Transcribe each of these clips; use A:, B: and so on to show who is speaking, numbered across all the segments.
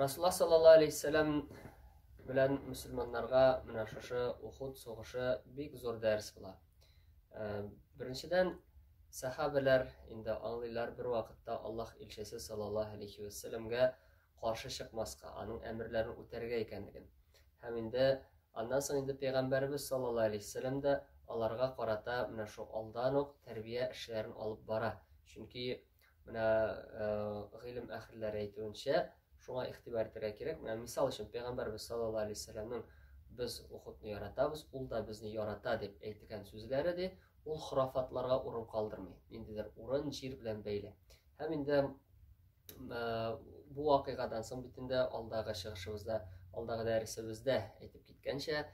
A: Расулла саллаллаху алейхи вәссәлам белән мөселманнарга менә шушы Ухуд сугышы бик зур дәрес була. Э, беренчедән, сәхабәләр инде аңлыйлар бер вакытта Аллаһ илчесе саллаллаһу алейхи вәссәламгә каршы чыкмаска, аның әмерләрен үтәргә икәнлеген. Һәм инде аннан соң инде пәйгамбәребез саллаллаһу алейхи вәссәлам да аларга карата менә шу алдан ук тәрбия эшләрен алып бара. Чөнки Менә э, гыйлем әһелләре әйтүенчә, шуңа игътибар итәргә кирәк. Менә мисал өчен Пәйгамбәрбез саллаллаһу алейһи вәсәлләмнең без ухудны яратабыз, ул да безне ярата дип әйтелгән сүзләре дә ул хорафатларга урын калдырмый. Ниндидер урын җир белән бәйле. Һәм инде э, бу вакыйгадан соң бит инде алдагы чыгышыбызда, алдагы дәресебездә әйтеп киткәнчә,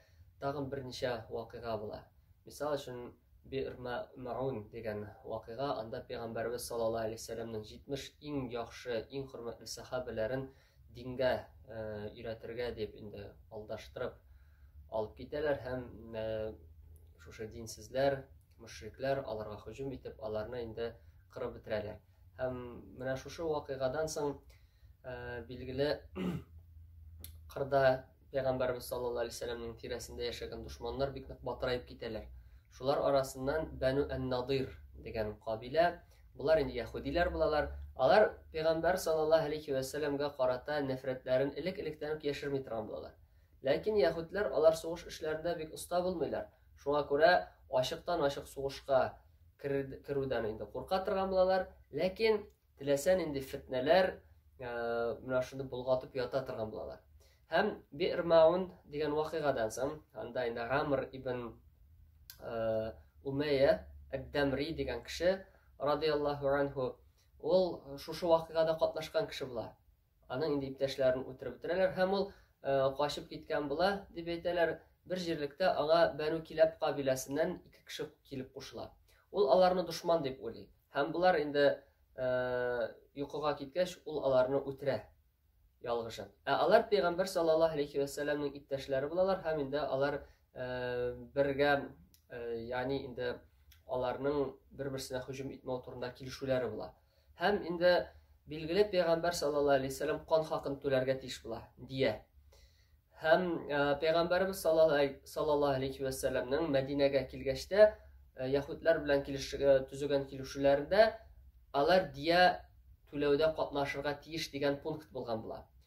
A: тагын берничә вакыйга була. Мисал өчен, Би'r Мәгъун дигән вакыйга, анда Пәйгамбәребез саллаллаһу алейһи ва сәлләмнең 70 иң яхшы, иң хөрмәтле сәхабәләрен дингә өйрәтергә дип инде алдаштырып алып китәләр һәм шушы динсезләр, мөшрикләр аларга һөҗүм итеп, аларны инде кырып бетерәләр. Һәм менә шушы вакыйгадан соң билгеле кырда Пәйгамбәрбез саллаллаһу алейһи вәсәлләмнең тирәсендә яшәгән дошманнар бик нык батыраеп китәләр. Шулар арасыннан Бәну ән-Надир дигән кабилә, булар инде яһудиләр булалар. Алар пәйгамбәр саллаллаһу алейһи вәсәлләмгә карата нәфрәтләрен элек-электән үк яшерми торган булалар. Ләкин яһүдләр алар сугыш эшләрендә бик оста булмыйлар. Шуңа күрә ачыктан-ачык сугышка керүдән инде курка торган булалар. Ләкин Теләсә нинди фетнәләр менә шуны болгатып ята торган булалар. Һәм Бирмаун дигән вакыйгадан соң, анда инде Гамр ибн Умәя Әд-Дамри дигән кеше, радияллаху анху, ул шушы вакыйгада катнашкан кеше була. Аның инде иптәшләрен үтереп бетерәләр һәм ул качып киткән була, дип әйтәләр. Бер җирлектә аңа Бәну Киләп кабиләсеннән ике кеше килеп кушыла. Ул аларны дошман дип уйлый һәм болар инде йокыга киткәч, ул аларны үтерә ялгышып. Ә алар пәйгамбәр саллаллаһу алейхи вәсәлләмнең иптәшләре булалар һәм инде алар бергә, ягъни инде аларның бер-берсенә һөҗүм итмәү турында килешүләре була. Һәм инде билгеле пәйгамбәр саллаллаһу алейһи вәсәлләм кан хакын түләргә тиеш була, дия. Һәм пәйгамбәрбез саллаллаһу алейһи вәсәлләмнең Мәдинәгә килгәчтә яһүдләр белән төзегән килешүләрендә алар дия түләүдә катнашырга тиеш дигән пункт булган була.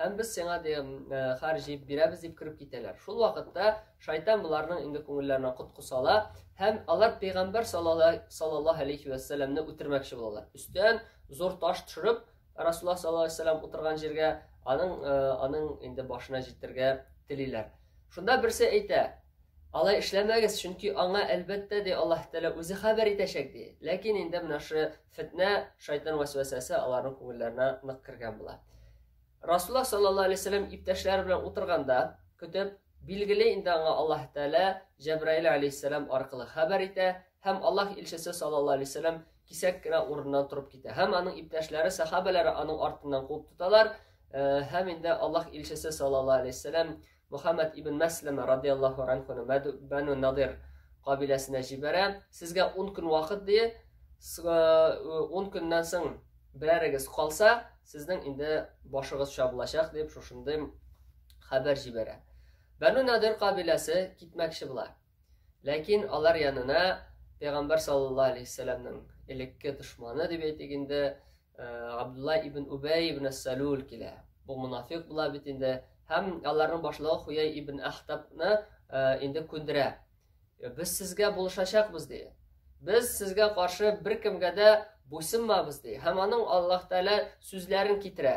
A: һәм без сиңа ди хар җыеп бирәбез дип кереп китәләр шул вакытта шайтан боларның инде күңелләренә кот косала һәм алар пәйгамбәр саллаллаһу алейхи вәссәламне үтермәкче булалар өстән зур таш төшереп расулла саллаллаху алейхи вәссәлам утырган җиргә аның э, аның инде башына җитәргә телиләр шунда берсе әйтә алай эшләмәгез чөнки аңа әлбәттә ди аллаһ тәгалә үзе хәбәр итәчәк ди ләкин инде менә шы Фетнә, шайтан вәсвәсәсе аларның күңелләренә нык кергән була. Расулла саллаллаһу алейһи вәсәләм иптәшләре белән утырганда, көтеп, билгеле инде аңа Аллаһ Тәгалә Җәбраил алейһиссәлам аркылы хәбәр итә һәм Аллаһ илчесе саллаллаһу алейһи вәсәләм кисәк кенә урыннан торып китә. Һәм аның иптәшләре, сахабәләре аның артыннан куып тоталар, һәм инде Аллаһ илчесе саллаллаһу алейһи вәсәләм Мөхәммәд ибн Мәсләмә радиаллаһу анхуны Бәну Надир кабиләсенә җибәрә. Сезгә ун көн вакыт дие, ун көннән соң берәрегез калса, сезнең инде башыгыз чабылачак дип шушындый хәбәр җибәрә. Бәну Надир кабиләсе китмәкче була. Ләкин алар янына Пәйгамбәр саллаллаһу алейхи вәсәләмнең элекке дошманы дип әйтик инде, Абдулла ибн Убәй ибн Салюл килә. Бу мунафик була бит инде. Һәм аларның башлыгы Хуяй ибн Ахтабны инде күндерә. Без сезгә булышачакбыз ди. Без сезгә каршы беркемгә дә буйсынмабыз ди. Һәм аның Аллаһ Тәгалә сүзләрен китерә.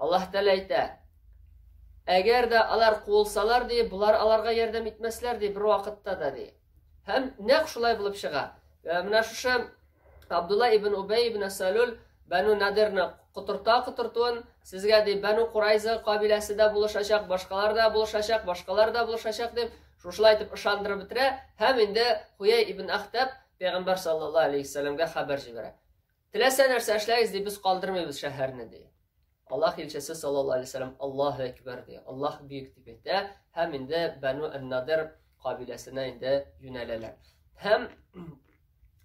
A: Аллаһ Тәгалә әйтә, Әгәр дә алар куылсалар, ди, болар аларга ярдәм итмәсләр, ди, бер вакытта да, ди. Һәм нәкъ шулай булып чыга. Э, менә шушы Абдулла ибн Убәй ибн Салюл Бәну Надирны котырта котыртуын, сезгә ди, Бәну Курайза кабиләсе дә булышачак, башкалар да булышачак, башкалар да булышачак дип, шушылай итеп ышандырып бетерә һәм инде Хуяй ибн Ахтаб пәйгамбәр саллаллаһу алейхи вәсәләмгә хәбәр җибәрә. Теләсә нәрсә эшләгез, ди, без калдырмыйбыз шәһәрне, ди. Аллаһ илчесе саллаллаһу алейһи вәсәлләм Аллаһу әкбәр ди. Аллаһ бөек дип әйтә һәм инде Бану ан-Надир кабиләсенә инде юнәләләр. Һәм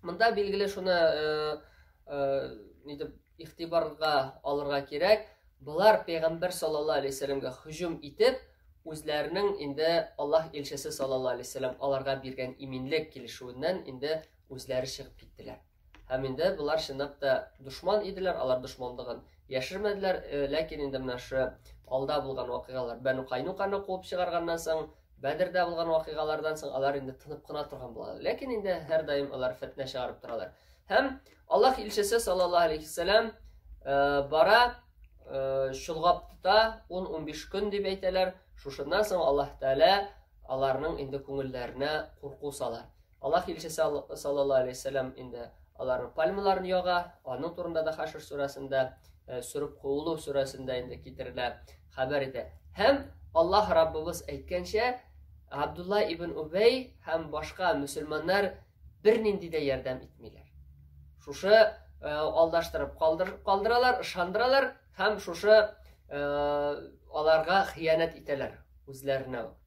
A: монда билгеле шуны э, э, нидеп ихтибарга алырга кирәк. Болар пәйгамбер саллаллаһу алейһи вәсәлләмгә һөҗүм итеп, үзләренең инде Аллаһ илчесе саллаллаһу алейһи вәсәлләм аларга биргән иминлек килешүеннән инде үзләре чыгып киттеләр. Һәм инде болар чынлап та дошман иделәр, алар дошманлыгын яшермәделәр, э, ләкин инде менә шы алда булган вакыйгалар, Бәну Кайнуканы куып чыгарганнан соң, Бәдердә булган вакыйгалардан соң алар инде тынып кына торган булалар. Ләкин инде һәрдаим алар фетнә чыгарып торалар. Һәм Аллаһ илчесе саллаллаһу алейхи вассалам э, бара, э, чолгап тота, 10-15 көн дип әйтәләр. Шушыннан соң Аллаһ Тәгалә аларның инде күңелләренә курку сала. Аллаһ илчесе саллаллаһу алейһи вәсәлләм инде аларның пальмаларын яга, аның турында да Хашр сүрәсендә, э, сүреп куылу сүрәсендә инде китерелә, хәбәр итә. Һәм Аллаһ Раббыбыз әйткәнчә, Абдулла ибн Убәй һәм башка мөселманнар бернинди дә ярдәм итмиләр. Шушы э, алдаштырып калдыр, калдыралар, ышандыралар һәм шушы э, аларга хыянәт итәләр үзләренә.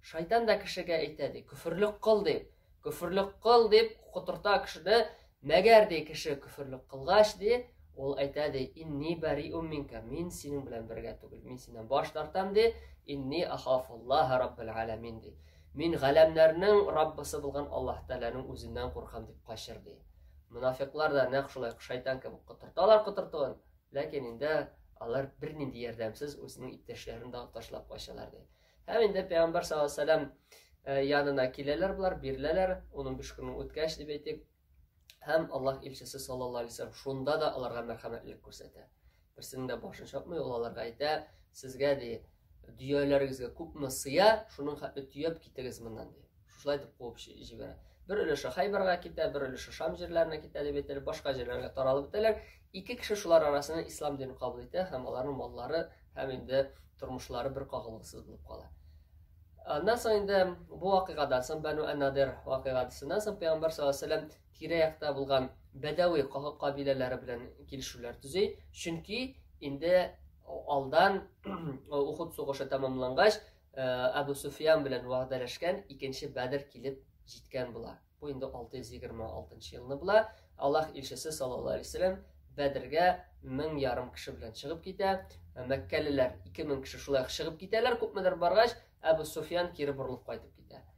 A: Шайтан да кешегә әйтә, ди, көферлек кыл дип. Көферлек кыл дип котырта кешене. Мәгәр ди кеше көферлек кылгач ди, ул әйтә ди, инни бари умминка, мин синең белән бергә түгел, мин синнән баш тартам ди, инни ахафуллаха раббил алямин ди. Мин галәмнәрнең Раббысы булган Аллаһ Тәгаләнең үзеннән куркам дип качыр ди. Мунафиклар да нәкъ шулай шайтан кебек котырталар котыртуын, ләкин инде алар бернинди ярдәмсез үзенең иптәшләрен дә ташлап качалар ди. Һәм инде пәйгамбәр саллаллаһу алейһи вәсәлләм э, янына киләләр болар, биреләләр, 15 көннең үткәч дип әйтик. Һәм Аллаһ илчесе саллаллаһу алейһи вәсәлләм шунда да аларга мәрхәмәтлек күрсәтә. Берсенең дә башын чапмый, ул аларга әйтә, сезгә ди, дөяләрегезгә күпме сыя, шуның хәтле төяп китегез моннан ди. шушылай итеп куып җибәрә бер өлеше хайбарға китә бер өлеше шам җирләренә китә дип әйтелеп башка җирләргә таралып бетәләр ике кеше шулар арасында ислам динен кабул итә һәм аларның маллары һәм инде тормышлары бер кагылгысыз булып кала аннан соң инде бу вакыйгадан соң бәну әнадер вакыйгасыннан соң пәйгамбәр саллаллаху алейхи вәсәләм тирә якта булган бәдәви кабиләләре белән килешүләр төзи чөнки инде алдан ухуд сугышы тәмамлангач Э, Әбу Суфиян белән вәгъдәләшкән икенче Бәдер килеп җиткән була. Бу инде 626 елны була. Аллаһ илчесе саллаллаһу алейһи вәсәләм Бәдергә мең ярым кеше белән чыгып китә. Э, мәккәлеләр 2000 кеше шулай чыгып китәләр, күпмедер баргач, Әбу Суфиян кире борылып кайтып китә.